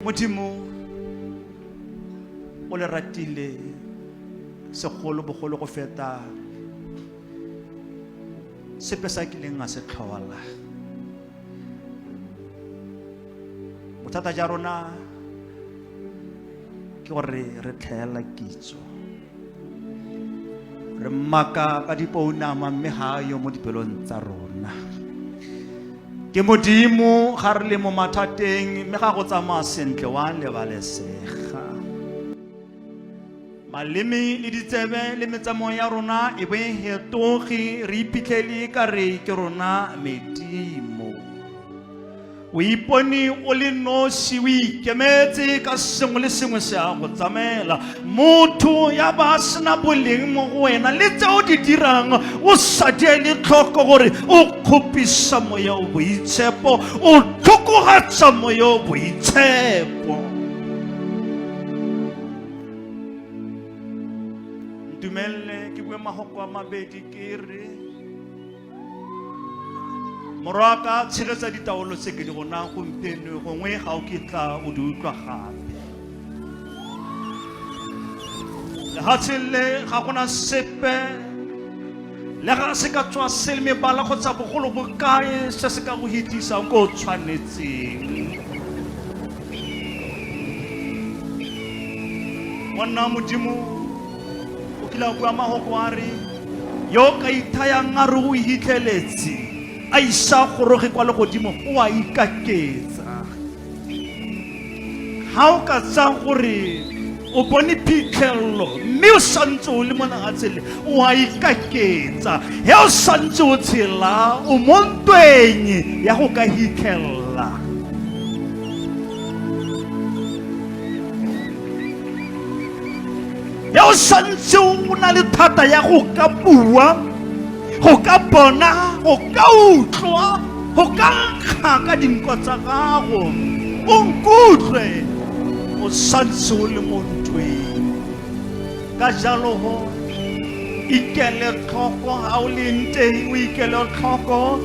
modimo o le ratile segolo bogolo go feta sepe sa kileng a se tlhola bothata ja rona ke gore re tlhaela kitso re mmaka ka dipounama mme ga a yo mo dipelong tsa rona ke modimo ga re le mo mathateng mme ga go tsamaya sentle wa lebalesega maleme le ditsebe le metsamao ya rona e be hetoge re iphitlhele ka re ke rona medimo o ipone o le nosi o ikemetse ka sengwe le sengwe se a go tsamaela motho ya ba sena boleng mo go wena le tse o di dirang o sa diele tlhoko gore o kgopisa moya o boitshepo o tlhokogatsa moya o boitshepo ntumelele ke bue magoko a mabedi ke re morwa ka tshegetsa ditaolo tse ke di go nang gompieno gongwe ga o kitla o di utlwa gape lefatsheng le ga gona sepe le ga se ka tswa se le mebala kgotsa bogolo bokae se se ka go hitlisang ko o tshwanetseng monna modimo o kile a bua mahoko a re yo o ka ithayang a re o ihitlheletse a isa goroge kwa legodimo o a ikaketsa ga o ka tsaya gore o bone phitlhelelo mme o santse o le mo nagatsele o a ikaketsa he o santse o tshela o mo ntweng ya go ka hitlhelela ya o santse o na le thata ya go ka bua go ka bona go ka utlwa go ka nkga ka dinko tsa gago o nkutlwe o santse o le mo ntweng ka jalo go ikele tlhoko ga o leng teng o ikele tlhoko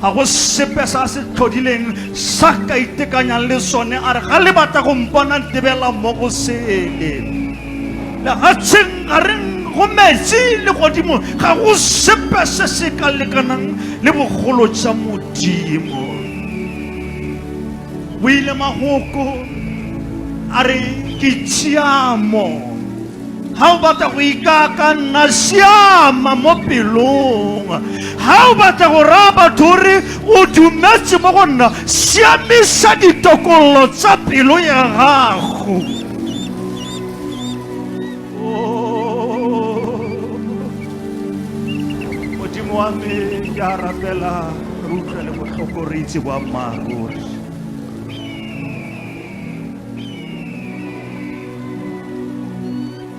ga go sepe sa se tlhodileng sa ka itekanyang le sone a re ga le batla go mpona ntebela mo go sele legatsheng ga re go metsi le godimo ga go sepe se se ka lekanang le bogolo jwa modimo o ile magoko a re ke tshiamo ga o batla go ikaakanna siama mo pelong ga o batla go raya batho gore o dumetse mo go nna siamisa ditokololo tsa pelo ya gago Oh. modimo wa me ke a rapela re utlwele botlhoko re itse boammaaruri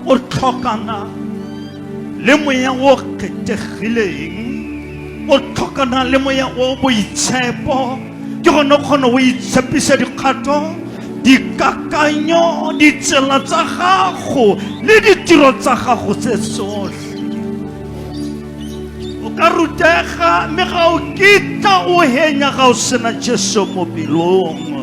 o tlhokana le moya o kgethegileng o tlhokana le moya o boitshepo ke gone kgone o itshepisa dikgato dikakanyo ditsela tsa gago le ditiro tsa gago tse tsotlhe o ka rutega mme ga o kitla o henya ga o sena jesu mo pelong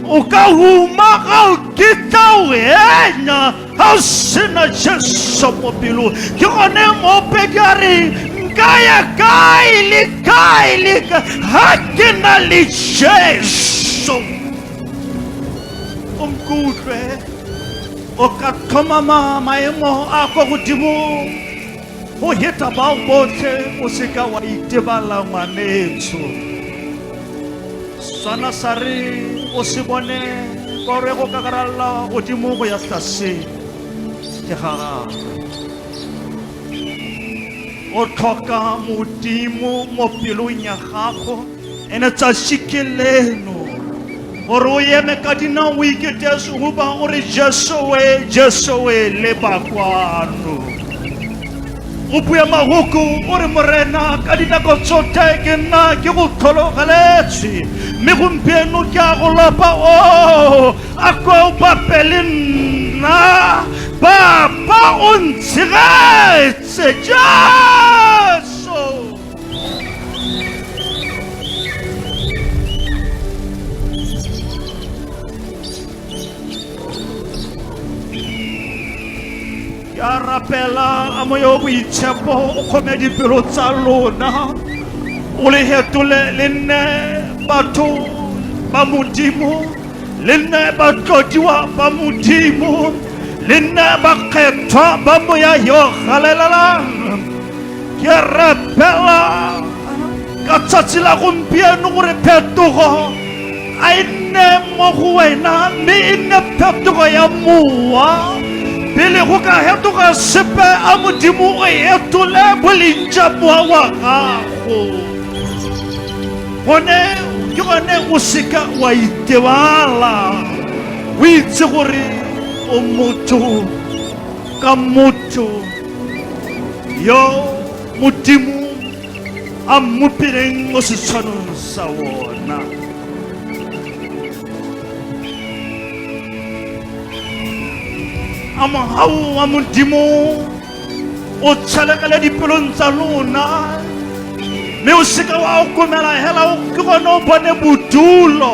O ka huma ga o kitla wena ga o sena jesu mo pelong ke gone moopedi a re nka ya kae le kae le kae ga ke na le jesu o nkutlwe o ka tlhomama maemo a kwa godimong go heta bao botlhe o seka wa itebala ngwanetsho sana sa re o se bone ka gore go kakaralla godimo go ya tlase ke ga gagwe o tlhoka modimo mo pelong ya gago ene tsa shikeleno gore o eme ka dinao o iketese go ba o re jesoe jesoe le bakwano o bue magoku o re morena ka dinako tsote ke nna ke go tlhologeletswe mme gompieno ke a go lopa o oh, a kwa o bape le nna bapa o ntshegetse jang ya rapela a moya o boitshepo o kgome dipelo tsa lona o le hetole le nne batho ba modimo le nne batlodiwa ba modimo le nne bakgethwa ba moya yo galelelang ke a rapela ka tsatsi la gompieno gore phetogo a e nne mo go wena mme e nne phetogo ya mowa pele go ka hetoga sepe a modimo o etole boleng ja mowa wa gago gone ke gone o seka wa itebala o itse gore o motho ka motho yo modimo a mmopileng mo setshwanong sa wona a mogau wa modimo o tshelekele dipelong tsa lona mme o seka wa okomela hela o ke gone o bone bodulo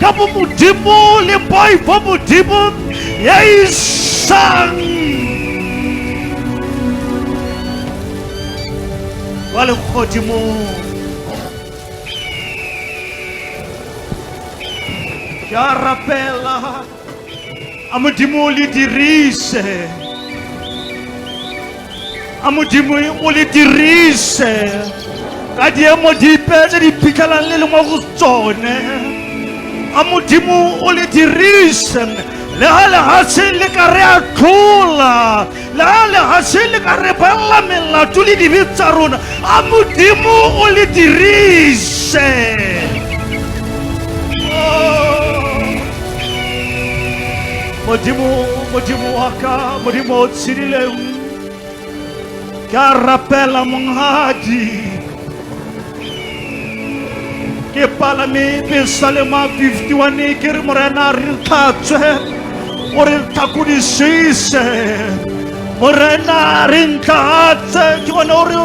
ka bo modimo le boi bo modimo ya isang kwa legodimong ke a rapela a modimo o le dirise a modimo o le dirise ka diemo dipe tse di phitlhelang le le mo go tsone a modimo o le dirise le ga lehatshe le ka re a tlhola la le ga se le ka re balla melato le dibe tsa rona a modimo o le dirise modimo modimo wa ka modimo o tshedileng ke a rapela mongadi ke palame besa le ma 51 ke re morena re tlhatswe o re tlhakodisise morena re ntlatse ke bone o re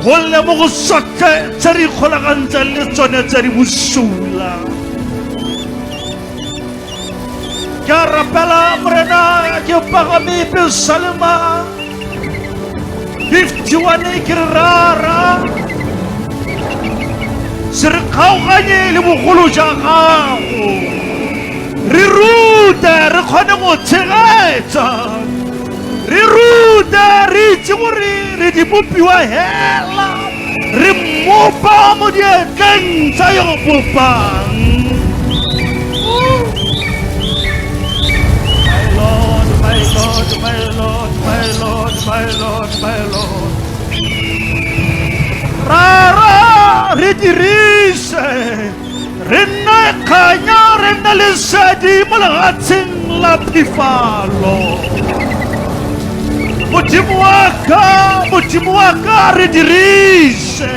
golle mo go sotlhe tse re ikgolagantseng le tsone tse di bosula Ke a rapela morena ke pagame pelo salema 51 ke re rara se re kgaoganye le bogolo ja gago re rute re kgone go tshegetsa re rute re itse gore re di bopiwa hela re mmopa mo dietleng tsa yo bopang My Lord, my Lord, my Lord, my Lord, my Lord. Rara, re dirise re nne kganya re nne lesedi mo legatsheng la phifalo modimo wa ka modimo wa ka re dirise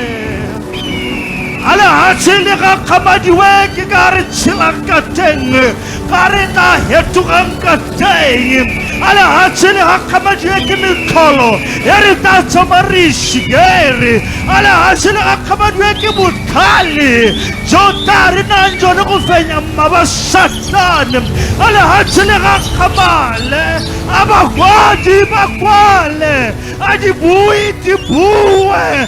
ga legatshe le gakgamadiwe ke ka re tshelang ka teng ka re tla hetogang ka teng a lehatshe le gakgamadiwe ke mekgolo ya re tla tshoma re shikere a lehatshe le gakgamadiwe ke botlhale jo tla re nang jone go fenya mma ba satane a lehatshe le gakgamale a bakwadi ba kwale a dibui di bue